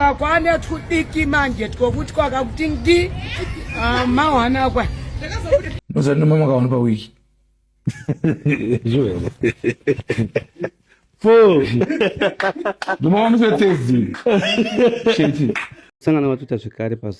Kwane tudiki manje twokuti kwakakuti ngi ah, mawana kwa. Noza no mama kaona pa wiki. Joel. Fo. Ndimawamisa tezi. Sheti. Sangana watuta zvekare pa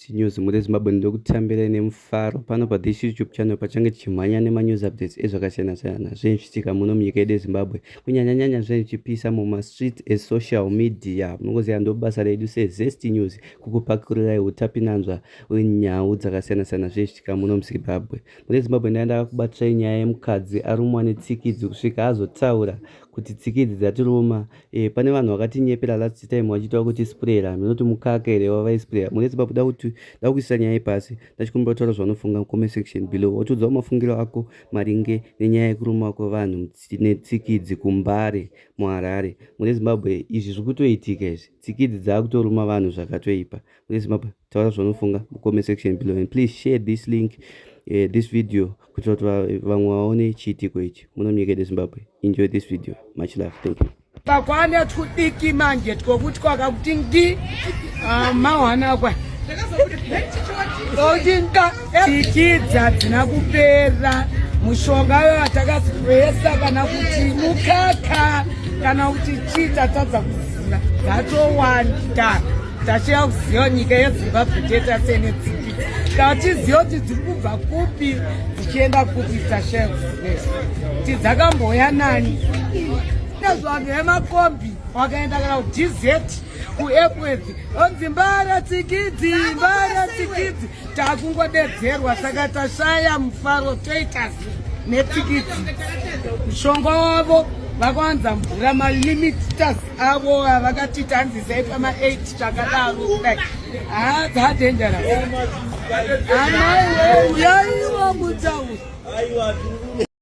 News muri Zimbabwe ndokutambirai nemufaro pano pa this YouTube channel pachange tichimhanya nema news updates ezvakasiyana siyana zvinhu zvichiitika muno munyika yedu yeZimbabwe kunyanya nyanya zvinhu zvichipisa muma streets e social media munongoziva ndobasa redu se Zest News kukupakururai utapinanzva wenyau dzakasiyana siyana zvinhu zvichiitika muno muZimbabwe mune Zimbabwe ndanga ndakakubatsirai nyaya yemukadzi arumwa netsikidzi kusvika azotaura kuti tsikidzi dzatiruma Eh, pane vanhu vakatinyepera last time vachiita kuti sprayer hameno kuti mukaka here wavaisprayer murezi babu da kuti da kuisa nyaya ipasi ndachikumbira kutaura zvavanofunga mucomment section below wotiudzawo mafungiro ako maringe nenyaya yekuruma kwevanhu netsikidzi kumbare muharare mune zimbabwe izvi zviri kutoitika izvi tsikidzi dzaakutoruma vanhu zvakatoipa mune zimbabwe taura zvaunofunga mucomment section below and please share this link uh, this video kuitira kuti vamwe vaone chiitiko ichi muno munyika yedu zimbabwe enjoy this video much love thank you kakwane twudiki manje twokuti kwakakuti ndi ah, mawanakwa Tikidza dzina kupera mushonga yo atakasipresa kana kuti mukaka kana kuti chii tatadza kuziva dzatowanda tachida kuziva nyika yezimbabwe teta sene tsiki tatiziva kuti dziri kubva kupi dzichienda kupi tashaya kuziva kuti dzakamboya nani nezvanhu yemakombi wakaenda kana kudizeti kuepwedzi onzi mbara tsikidzi mbara tsikidzi takungodedzerwa saka tashaya mufaro toitas netsikidzi mushonga wavo vakawanza mvura malimitas avo avakati tanzisai pama 8 chakadaro kudai haa dzadenjera amaiwe uyaiwa mutauri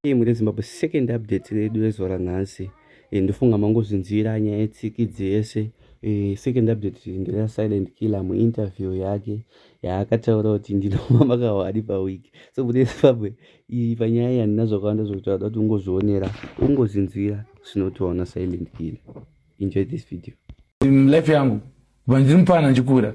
Team reZimbabwe second update redu rezuva ranhasi e, ndofunga mangozvinzwira nyaya yetsiki dzese e, second update ndina silent killer muinterview yake yaakataura kuti ndinova makawadi paweek so kune zimbabwe iyi panyaya iyi handina zvakawanda zvokutaura kuti ungozvionera ungozvinzwira zvinotoona silent killer enjoy this video life yangu kubva ndiri mupana ndichikura